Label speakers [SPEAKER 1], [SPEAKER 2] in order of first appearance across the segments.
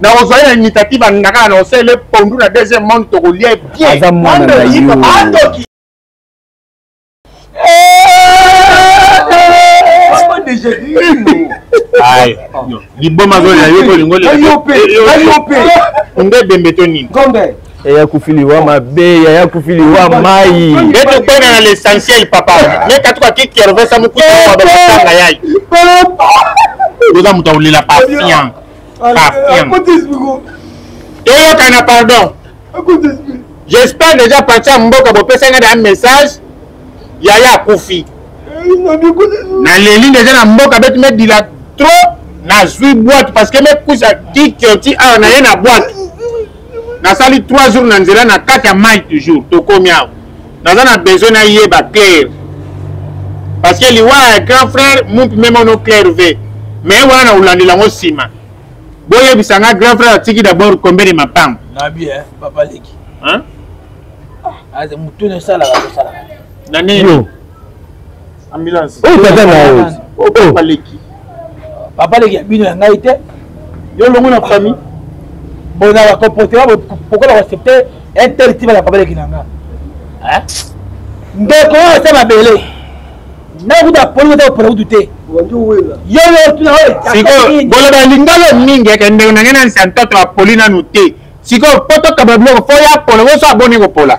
[SPEAKER 1] na ozali na initiative banda kaka na osalele pondu na deuxième monde tokolia ye bien aza mwana na yo liboma zoya yo kolingo nde dembe to nini yaya kufi liwa mabe yaya kufi liwa mai etokona na l'essentiel papa meka tukaki kervesa mokuta babakotanga yai oza moto akolela patience toyokana pardon j'espère déjà parti ya mboka bopesa ngai na message yaya akufi naleli deja na mboka beti medila trop nazwi boite parce que mekusa kikioti awa naye na boite nasali 3 jours na nzela na kati ya mai toujours tokomi awa naza na besoin nayeba claire parce que liwa ya grand frère mumpi meme ono claire ve mais wana na kolandela yango nsima boyebisa nga grand frère atiki d'abord combien de mapango nabi eh, papa leki motu ah, esalaka tosalaka na nini ambulance oyo tata na yo oh, papa leki papa leki ya bino ya ngai te yo longo na famille bona bakomporte ba pourkoi bakoaccepte un tel tiba na papa leki na nga ndeko oyo ata mabele nakuta aponi ata kopona kutu te sikoyo boloba lingala mingi eke ndeko na ngai na nsantoto apoli nanu te sikoyo po tokaba biloko fo ya pola oso aboni kopola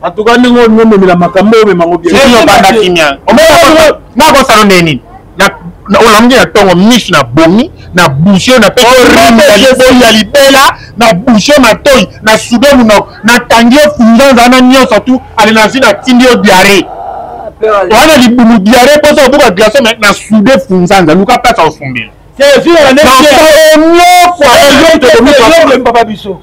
[SPEAKER 1] En tout cas, nous avons mis la macambo, mais nous avons bien. C'est le banda qui vient. On va voir ça, on est olambi na ntongo miso na bomi na bushe na pe orime ya liboi ya libela na bushe matoi na sudo monoko natangi yo funzanza na nyonso tu ale na zwi natindi yo diare wana libumu diare mposa obuka glace me na sude funzanza luka place aofumbela nyonso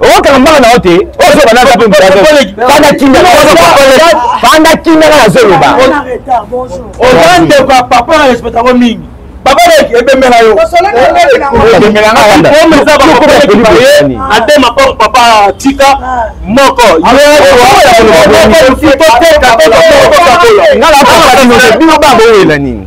[SPEAKER 2] okanga mbanga na yo te panda kindaka nazoloba oza ndeko ya papa na respect yango mingi papa leki ebembela yo atema po papa tika moko bino babowela nini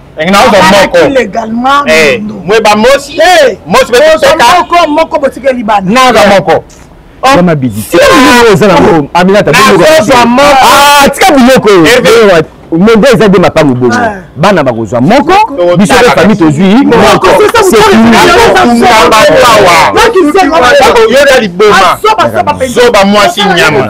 [SPEAKER 3] mweba mosi
[SPEAKER 1] mosi moko moko botikeli
[SPEAKER 3] bana naza moko
[SPEAKER 1] wana
[SPEAKER 4] bidisi eza na aminata tika biloko monde eza nde mapango bongo ah. bana bakozwa moko biso mpe fami tozwi mokoyoka liboma
[SPEAKER 1] zoba mwasi nyama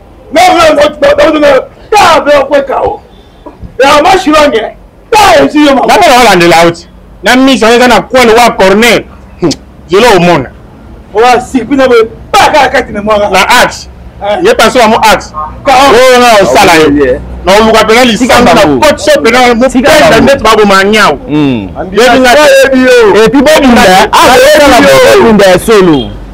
[SPEAKER 2] napona olandela auti
[SPEAKER 1] na miso eza na kwel wa corner zelo omona
[SPEAKER 2] na axe
[SPEAKER 1] ye panso yango axe oyo na osala ye na oluka mpena lisanga na cote so mpena mopenda ndeti baboma nyau epi
[SPEAKER 4] bobunda ya solo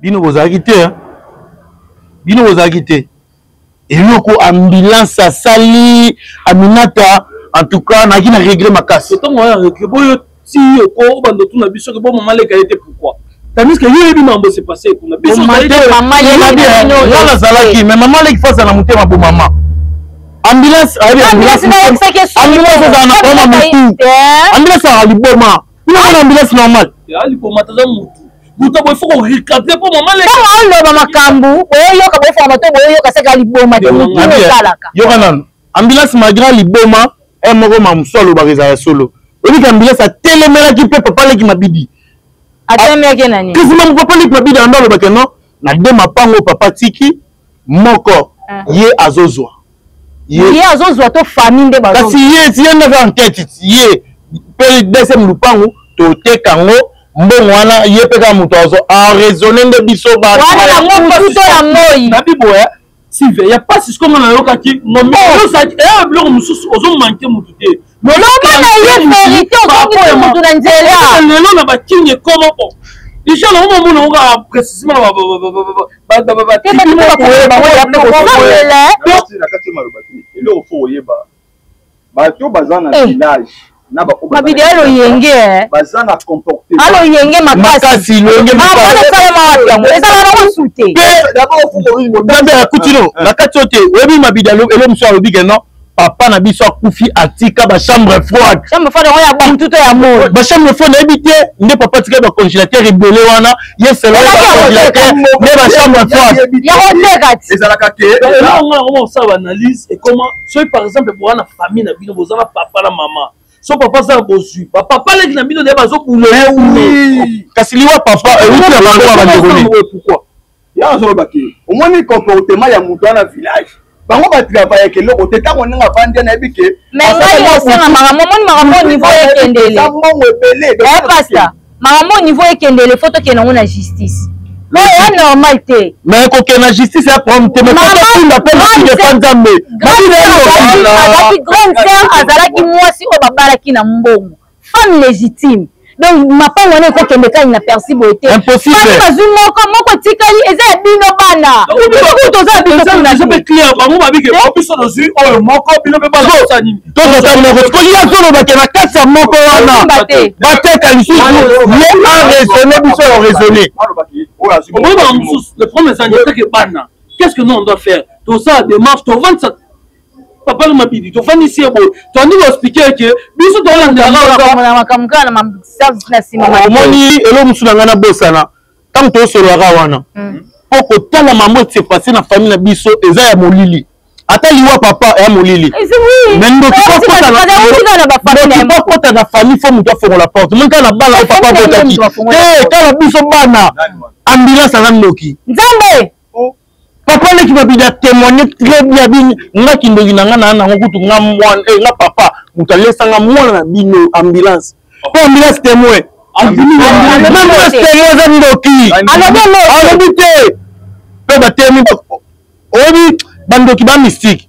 [SPEAKER 5] bino bozalaki te hein? bino bozalaki te eloko ambulance asali aminata en tout cas naki na regret makasi ntango wana regret boyo
[SPEAKER 6] ti oko obanda otuna biso ke bo mama leka ye te pourquoi tandis que yo oyebi mambo se passe kuna
[SPEAKER 5] biso nga nazalaki mais mama leki fasa na motema bomama ambulance ayebi ambulance ambulance ezala na koma mutu eh? ambulance ezala liboma kuna mona ambulance normal liboma taza
[SPEAKER 6] mutu buta boye fo korecapte mpo mama ntango oloba makambo
[SPEAKER 7] oyoyoka boyofoka bato boyoyoka seka liboma te mutu osalaka yoka nano
[SPEAKER 5] ambulance malgré liboma e eh, moko ma mosu alobaka ezala solo oyebika ambulance atelemelaki mpe papa leki mabidi atelemaki
[SPEAKER 7] nani kisima papa leki mabidi
[SPEAKER 5] ando alobaka non na de mapango papa tiki moko ah. ye azozwa ye
[SPEAKER 7] azozwa to famille nde kasi ye ti ye ndaka
[SPEAKER 5] enquête ye mpe deuxième lupangu toteka yango mbongo wana ye mpe kaka moto azo araisonne nde biso bana yango mosusu
[SPEAKER 7] ya moi nabi boye
[SPEAKER 6] sive ya mpasi siko nga nayokaki ngombeozaki oh! eya eh, biloko mosusu ozomanke motu te loloba na ye
[SPEAKER 7] verité ozongisi motu na nzela lelo na bakingi
[SPEAKER 6] ekoma o déjà na moma mona oka précisement batribunal
[SPEAKER 7] bato baza na eh. village mabidi
[SPEAKER 2] ya loyenge baza na
[SPEAKER 7] comportement aloyenge ah, makasi loyenge
[SPEAKER 5] masalema wapi yango ezala na mosu te nzambe akuti no na kati oyo te oyebi mabidi elo mosusu alobi ke non papa na biso akufi atika bachambre froide chambre froide yango ya bantu
[SPEAKER 7] to ya moi bachambre froide nayebi te
[SPEAKER 5] nde papa atika bacongélateur ebele wana ye selo ya bacongélateur nde bachambre froide yango teka ti
[SPEAKER 7] ezalaka te
[SPEAKER 2] yango osala
[SPEAKER 6] baanalyse ekoma soki par exemple boa na famille na bino boza na papa na mama so papa aza na bozwi bapapa aleki na bino nde bazobula ye eh
[SPEAKER 5] kasi liwa papa euti eh, na bango ya bandeko nini pourquoi
[SPEAKER 6] ya azoloba te
[SPEAKER 2] omoni comportement ya moto wana village bango batravayaka eloko te ntango ndenge avandi nayebi ke mais ngai osala
[SPEAKER 7] makambo omoni makambo niveau ekendele mbongo ebele
[SPEAKER 2] pasta
[SPEAKER 7] makambo oyo niveau ekendele fo tokende yango na justice po ya normal te me kokende na justice
[SPEAKER 5] ya problème te mekotunda mpe mokili epa nzambe azalaki
[SPEAKER 7] grande sœur azalaki mwasi oyo babalaki na mbongo femme légitime donc mapango wana ekokende kani na persi boye te bazwi moko moko etikali eza ya bino bana toza biso mpe client
[SPEAKER 6] bango babike biso tozwi oyo moko bino mpe bazosa nini tozotali na koti
[SPEAKER 5] koya koloba ke na kati ya moko wana bateka lisusu ye araisonne biso ya raisonne omoni bana
[SPEAKER 6] mosusu le problème ezangi eteke bana qu'est ce que nous on doit faire tosala démarche tovandisa papa na mabidi tofandisi ye boye toandi koexplike eke biso
[SPEAKER 7] tolandelaomoni elo mosusu
[SPEAKER 5] na ngai nabosana ntango tosololaka wana mm. mpo kotala mama ese passe na famille na biso eza ya molili ata liwa papa ya molili mais ndoki bakota na famille fo moto afongola porte moi kaka na bana oyo papa akotaki te kaka biso bana ambulance aza ndoki nzambe
[SPEAKER 7] papa
[SPEAKER 5] leki babi na témoigner très bien bi nga kindoki na nga na nango kutu nga mwana eh nga papa mutu alesa nga mwana na bino ambulance po ambulance témoin ambulance témoin eza ndoki alobi te pe batemi oyebi bandoki ba mystique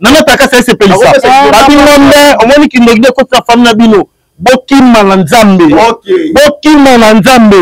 [SPEAKER 5] nanga takasa esepelisa babingombe omoni kindoki de kotisa fami na bino bokima na nzambe bokima na nzambe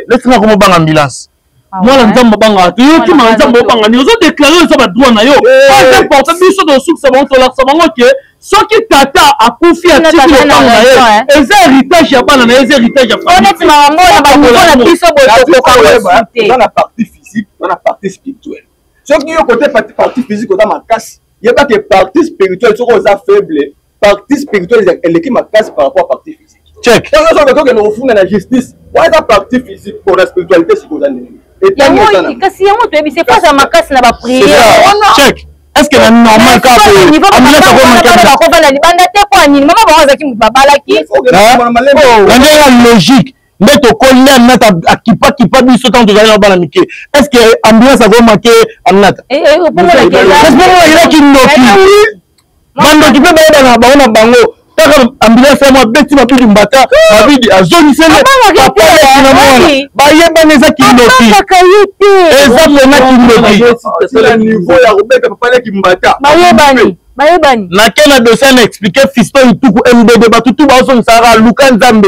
[SPEAKER 5] lesinga koma banga ambulance ah mwana nzambe
[SPEAKER 6] obangaka te yo kima na nzambe obanga nini ozo deklare oza badroit na yo pas importe biso tosukisa bango tolakisa bango ke soki tata akufi atiki lopango na ye eza héritage ya bana na ye eza héritage ya famille
[SPEAKER 7] na biso botokoka na partie
[SPEAKER 2] physique na partie spirituelle soki yo kote parti physique oza makasi yeba ke parti spirituel soki oza faible parti spirituel eleki makasi par rapport parti physique check tango nyonso tokende
[SPEAKER 5] kofunda
[SPEAKER 2] na justice wana eza parti physique pona spiritualité sikoyo oza ndenge kasi
[SPEAKER 7] yango toyebi se face ya makasi na bapriere est-ce que
[SPEAKER 5] na normal ka ko amina ka ko
[SPEAKER 7] makata ba ko bana libanda
[SPEAKER 5] te ko
[SPEAKER 7] anini mama bango azaki mutu babalaki na ndenge ya logique nde
[SPEAKER 5] tokoli aminata akipakipa biso ntango tozali na bana mike est ce que ambulance akomake aminata elaki ndoki bandoki mpe bayebana na bango na bango kaka ambulance yango abeti mabidi mbata mabidi azongisele papa leki na mwana bayebana eza kindoki eza pena kindoki nake na dossier na explike fiston ituku mbb bato tu baozongisaka luka nzambe